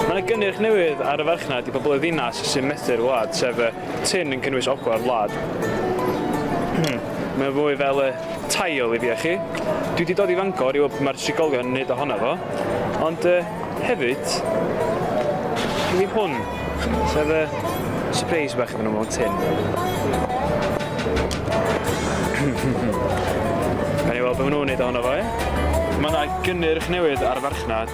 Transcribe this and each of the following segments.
Mae yna gynnyrch newydd ar y farchnad i bobl y ddinas sy'n methu'r wlad, sef y tin yn cynnwys ogla'r wlad. Mae o fwy fel y tail i fi a chi. Dwi 'di dod i Fangor i weld be mae'r trigolion yn neud ohono fo, ond yy hefyd gen i hwn, sef y sypreis bach iddyn nhw mewn tin. Gawn ni weld be maen nhw'n neud ohono fo, ie? Mae yna gynnyrch newydd ar y farchnad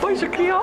Bois yn crio.